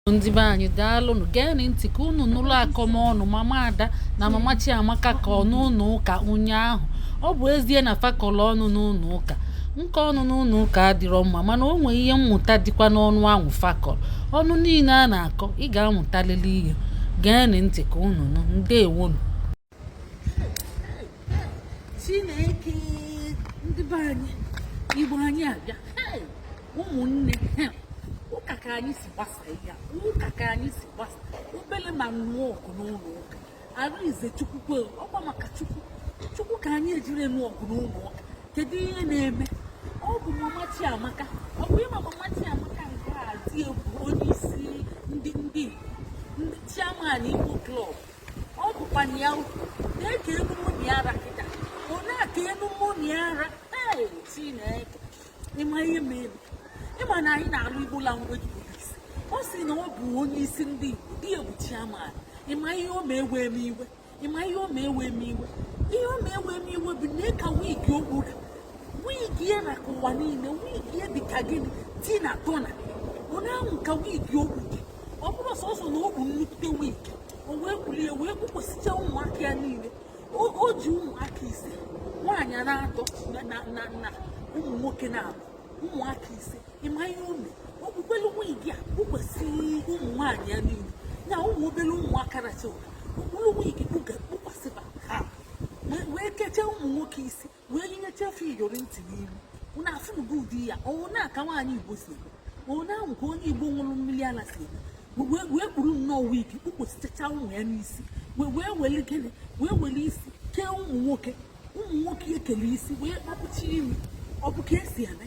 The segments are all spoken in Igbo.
ndị be anyị daalụnụ geenụ ntị ka unu nụrụ akọmọnụ mama ada na mama chiamaka kọ n'ụlọ ụka ụnyaahụ ọ bụ ezie na fa kọlụ ọnụ n'ụlọ ụka nke ọnụ n'ụlọ ụka adịrọ mma mana o nwee ihe mmụta dịkwa n'ọnụ ahụ fa kọlụ ọnụ niile a na-akọ ị ga-amụtalili ihe geenụ ntị ka unu nụ ndewonụ chineke ndị be anyị igbo anyị abịa ụmụnne ụka ka anyị si gbasa ya ụka ka anyị si gbasa obele ma nụọ ọgụ n'ụlọ ụka arịnze chukwu kwe ọkwa maka chukwu chukwu ka anyị ejirọ nụọ ọgụ n'ụlọ ụka kedu ihe na-eme ọ bụ mama chiamaka ọ bụ ị ma mama chiamaka nke a di ya bụ onye isi ndị ndị ndị chairman igbo club ọ bụkwa na ya ukwu na-eke enu mụni ara kịta ọ na-eke enu mụni ara ee chineke ị ma ihe mere ị ma na anyị na-alụ igbo language police ọ sị na ọ bụ onye isi ndị igbo di ya bụ chairman ị ma ihe o mee wee m iwe ị ma ihe o mee wee m iwe ihe o mee wee m iwe bụ na ịka wig o kpuru wig ya ra ka ụwa niile wig ya dị ka gịnị tina turner ọ na-ahụ ka wig o kpuru ọ bụrọ sọsọ na o kpu nnukwute wig o wee kulie wee kpukwasịcha ụmụaka ya niile o ji ụmụaka ise nwaanyị naatọ na ụmụ nwoke naabọ ụmụaka ise ị ma ihe o me o kpukwelu wig a kpukwasị ụmụ nwaanyị ya niile na ụmụ obere ụmụaka na chewara o kpulu wig kpukwasịba ha wee kechaa ụmụ nwoke isi wee nyecha fa iyori ntị n'imi unu afụnugo ụdị ya ọ wụ na ka nwaanyị igbo si eme ọ wụ na ahụ ka onye igbo ṅụrụ mmiri ala si eme We- wee wee kpuru nnọọ wig kpukwasịchacha ụmụ ya n'isi wee wee weli gịnị wee weli isi kee ụmụ nwoke ụmụ nwoke ekele isi wee kpapụcha imi ọ bụ ka e si eme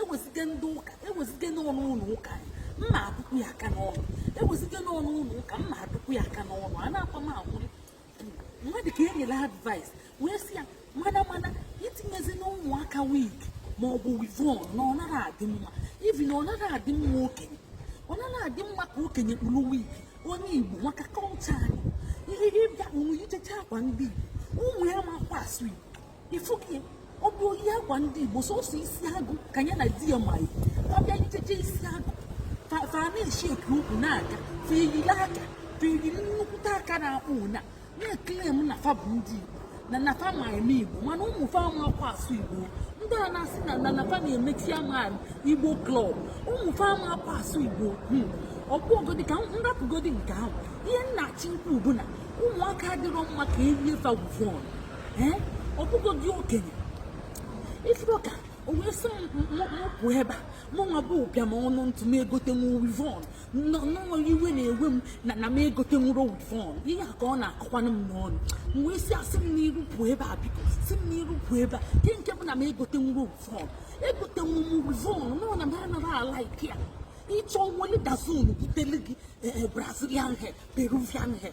ewezite ndị ụka ewezite n'ọnụ ụlọ ụka m na-adụkwu ya aka n'ọnụ ewezite n'ọnụ ụlọ ụka m na-adụkwu ya aka n'ọnụ a na-akwa m akwụrụ mmadụ ka e nyere advice wee sị ya mana mana etinyezina ụmụaka wig ma ọ bụ weavon na ọ naghị adị mma even na ọ naghị adị mma okenye ọ naghị adị mma ka okenye kpuru wig onye igbo maka culture anyị ihe ịbịa unu yichecha akwa ndị igbo ụmụ ya amakwa asụ igbo ifukie ọ bụ iyi akwa ndị igbo sọsọ isi agụ ka ya na di ya ma eyi ọ bịa yichecha isi agụ fa na-eshi eke ukwu na-aga fa eyiri aka fa eyiri nnukwute aka na-akpụ na na-claim na fa bụ ndị igbo na na fa ma eme igbo mana ụmụ fa amakwa asụ igbo ndị a na-asị na na na fa na-eme chairman igbo club ụmụ fa amakwa asụ igbo hmm. ọkpụogodi ka m rapụgodi nke ahụ ihe m na-achọ ikwu bụ na ụmụaka adịrọ mma ka erie fa weavon ọ bụgodi okenye ifuru ka o wee sị mụ pụ ebe a mụnwa bụ ụbịam ọnụ ntụ m egotenwu wivon nnọọ iwe na-ewe m na na m egotenwurọ wivon ihe a ka ọ na-akọkwanụ m n'ọnụ m wee sị ya si m n'iru pụọ ebe a biko si m n'iru pụọ ebe a nke nke bụ na m egotenwurọ wivon egotenwu m wivon nọọ na m anaghị ala ike ya ịchọ nwere dozen butele gị eh, eh, brazilian hair peruvian hair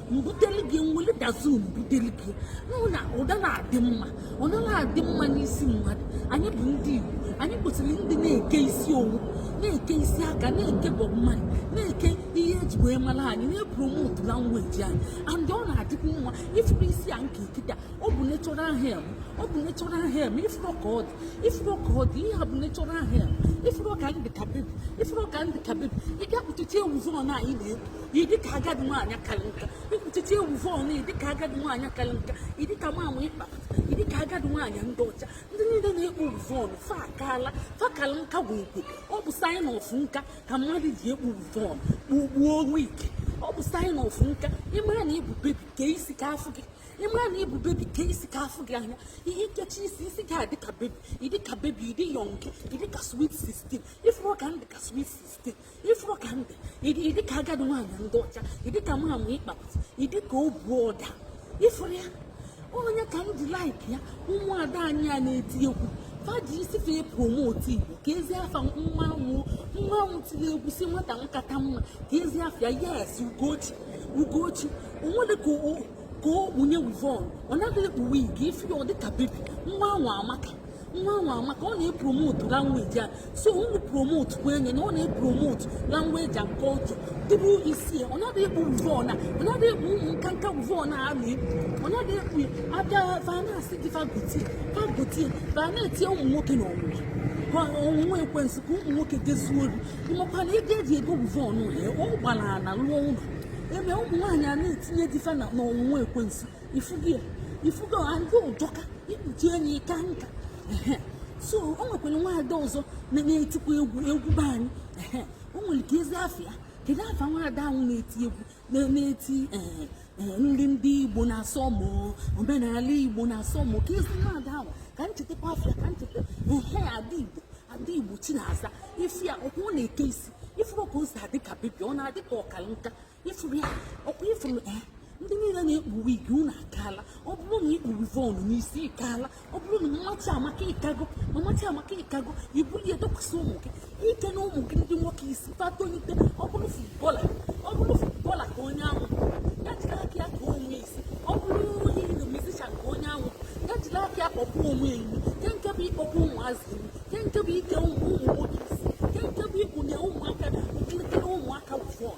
m buteli gị nwere dozen m buteli gị nụ na ọ da na-adị mma ọ naghị adị mma n'isi mmadụ anyị bụ ndị Igbo anyị kwesịrị ndị na-eke isi owu na-eke isi aka na-eke Bob Marley na-eke ihe eji wee mara anyị na-epromote language anyị and ọ na-adịkwu mma ifuru isi a m ke kịta ọ bụ natural hair m ọ bụ natural hair m ifuru ka ọ dị ifuru ka ọ dị ihe a bụ natural hair m ifuru ka m dị ka bebi ifuru ka m dị ka bebi ị bịa kpuchicha wivon a anyị na-ekwu ịdị ka agadi nwaanyị kalị nka ị kpuchicha wivon ịdị ka agadi nwaanyị kalị nka ịdị ka mmanwụ ị kpa ịdị ka agadi nwaanyị ndị ọcha ndị niile na-ekpu wivon fa akaala fa kalị nka bụ ukwe ọ bụ sign of nka ka mmadụ ji ekpu wivon kpugbuo wig ọ bụ sign of nka ịmara na ịbụ bebi kee isi ka afụ gị ịmara na ịbụ bebi kee isi ka afụ gị anya ihe i kechie isi isi gị adị ka bebi ịdị ka bebi ịdị young ịdị ka sweet 16 ịfụrụ ka m dị ka sweet 16 ifuru ka m dị ịdị ka agadi nwaanyị ndị ọcha ịdị ka mmanwụ ị kpapụta ịdị ka obu ọda ifuru ya onye ka m ji like ya ụmụada anyị a na-eti egwu fa ji isi fa promote igbo kezi afa nwa anwa nwa anwa tiri egwu sị nwata makata mma kezi afa ya yes ugochi ugochi o nwere ka ka o kpunye wivon ọ naghị ekpu wig ifu ya ọ dịka bebi nwa anwa amaka nwa anwa amaka ọ na-epromote language a so unu promote kwa enye na ọ na-epromote language and culture ndị igbo isi ọ naghị ekpu wivon ọ naghị ekpu ụmụ nkanka wivon a ọ naghị ekpu abịa va na-asị di fa gotie fa gotie va na-etinye ụmụ nwoke na ọnwụnwa ọnwụnwa ekwensu ka ụmụ nwoke je zuo ori ịmakwa na ego eji ego wivon ya ọ gbara ala lụọ ụlọ ebe ụmụ nwaanyị a na-etinye di fa na ọnwụnwa ekwensu ifugo ifugo ndị ụjọka ikpuchi enyi ka nka so o nwekwara nwaada ọzọ na-etikwa egwu egwu be anyị o nwere kezi afa ya kedu afa nwaada ahụ na-eti egwu na-eti eh, eh, nri ndị igbo na-asọ mụ omenala igbo na-asọ mụ kezi nwaada ahụ ka m chetakwa afa ya ka m cheta ehe ada igbo ada igbo chinaza ifu ya ọkwa ọ na-eke isi ifuru ka o si adị ka bebi ọ na-adị ka ọ kalị nka ị fụrụ ya ọkwa ị fụrụ eh, ndị niile na-ekpu wig unu akaala ọ bụrụ na i kpu weavon n'isi ị kaala ọ bụrụ na mmachi amaka ị kago ma mmachi amaka ị kago i bulie ya dokwasị ụmụ gị ike na ụmụ gị ndị nwoke isi fa tonite ọ bụrụ footballer ọ bụrụ footballer ka onye ahụ ya jiri aka ya ka onwe isi ọ bụrụ onye iri musician ka onye ahụ ya jiri aka ya kpọpụ onwe ya earring ke nke bụ ịkpọpụ ụmụazị earring ke nke bụ ike ụmụ nwoke isi ke nke bụ ikpunye ụmụaka ụmụaka weavon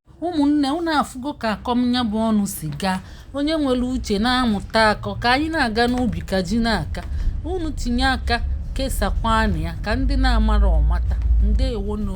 ụmụnne unu afụgo ka akọm ya bụ ọnụ si gaa onye nwere uche na-amụta akọ ka anyị na-aga n'ubi ka ji na-aka unu tinye aka kesakwanụ ya ka ndị na-amarọ mata ndewo nụ